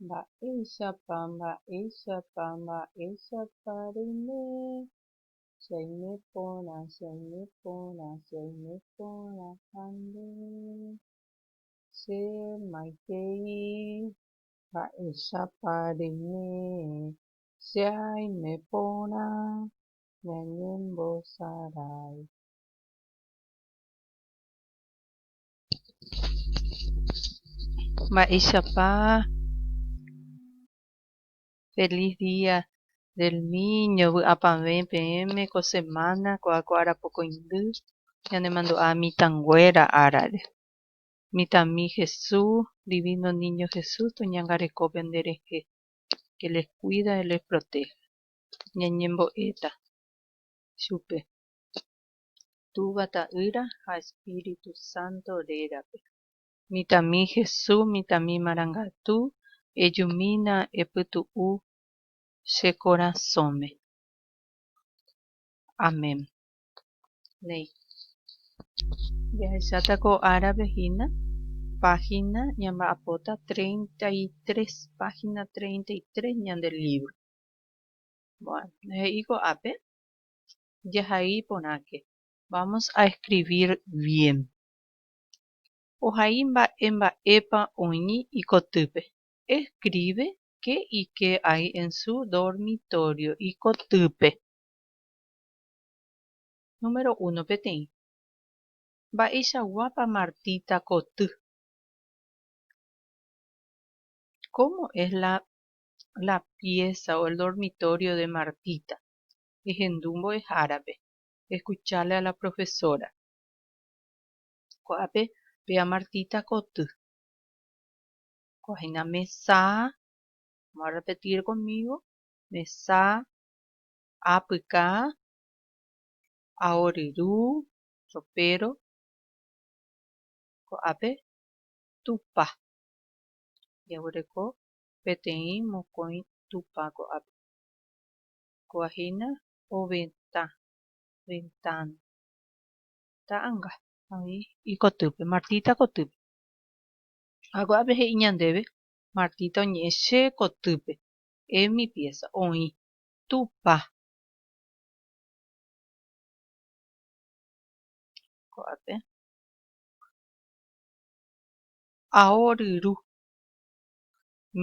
Mba'éichapa, mba'éichapa, mba'éichapa reime, che aime porã, che aime porã, che aime porã ha nde, che maitei. Mba'éichapa reime, che aime porã, ñañembosarái. Mba'éichapa Feliz Día del Niño vy'apavẽ peẽme ko semana ko'ã ko arapokõindy ñanemandu'a mitãnguéra árare. Mitãmi Jesús, Divino Niño Jesús toñangareko pende rehe, que les cuida y les protege. Ñañembo'éta chupe. Túva Ta'ýra ha Espíritu Santo rérape. Mitãmi Hesu, mitãmi marangatu, ejumína epytu'u che korasõme. Amén. Néi. Jahecháta ko árape hína, página ñamba'apóta treinta y tres, página treinta y tres ñande lívro. Bueno, he'i ko'ápe, jahai porãke. Vamos a escribir bien. Ohai mba'e mba'épa oĩ ikotýpe. Escribe qué y qué hay en su dormitorio ikotýpe. Número uno peteĩ. Mba'eichaguápa Martita koty. Cómo es la la pieza o el dormitorio de Martita. ehendu mbo'ehárape, escucharle a la profesora. Ko'ápe pe amartita koty. Ko'ã hína mesa, vamos a repetir conmigo, mesa, apyka, aoryru, ropero, ko'ápe tupa. Jaguereko peteĩ mokõi tupa ko'ápe. Ko hína ovetã, ventana. Ta'anga. Oĩ ikotýpe, Martita kotýpe. Ha ko'ápe he'i ñandéve, Martita oñe'ẽ che kotýpe, en mi pieza. Oĩ. Tupã. Ko'ápe. Ao ryru.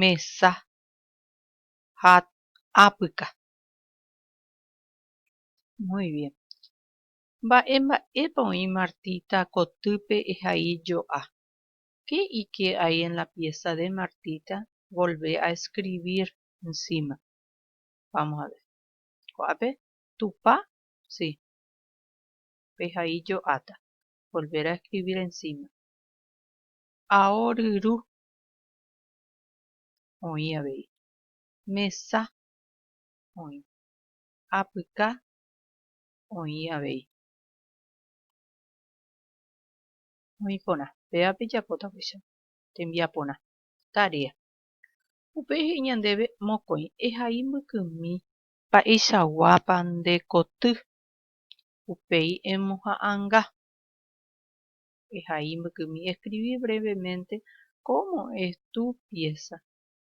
Mesa. Hat. apyka. Muy bien. Mba'e mba'épa oĩ Martita kotýpe ehai jo'a? Qué ike hay en la pieza de Martita volvé a escribir encima? Vamos a ver. Ko'ápe Tupã, si, pehai jo'áta. Volver a escribir encima. Aoryru oĩ avei. mesa oĩ, apyka oĩ avei. Oĩ porã, péva pejapóta upéicha tembiaporã, tarea. Upéi he'i ñandéve mokõi, ehai mbykymi. Mba'eichaguápa nde koty, upéi emoha'ãnga. Ehai mbykymi, escribí brevemente cómo es tu pieza,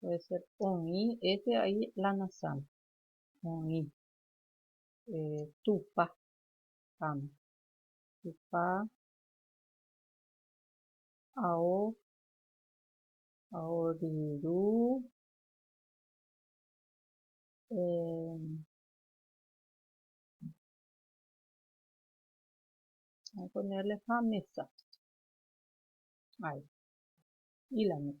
Puede ser oĩ, épe a'i la nasãme. Oĩ. Eh, Tupã. Pam. Tupã. Ao. Aoriru. Eh, voy a ponerle ha mesa. Ahí. Y la mesa.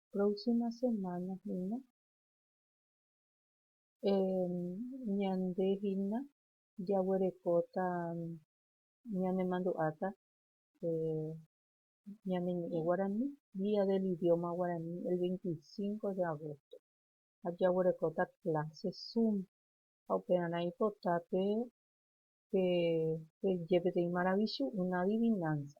próxima semana hína ñande hína jaguerekóta ñanemandu'áta ñane ñe'ẽ guarani día del idioma guarani el 25 de agosto ha jaguerekóta clase zoom ha upearã ipota pe pe jepéteĩ maravichu una adivinanza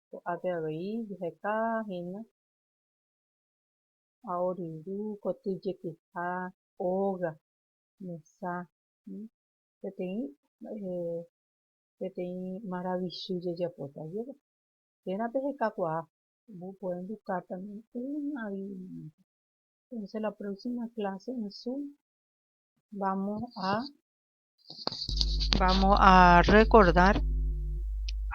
ko'ápe avei jeheka hína aoryvu, koty jekyha, óga, mesa, peteĩ, peteĩ maravichy jajapóta jeve. Térã pehekakuaa, puede educar también una alimento. Entonces la próxima clase en zoom vamos a Vamos a recordar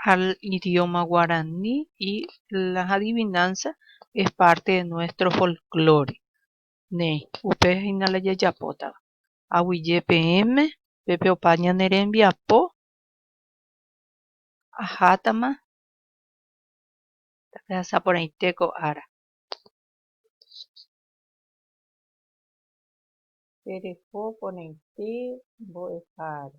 al idioma guaraní y las adivinanzas es parte de nuestro folclore. Ne, upe hina la yajapota. Aguille PM, pepe opa ñanerembi apo, ajátama, tape asaporaiteko ara. tereho porãite mbo'ehára.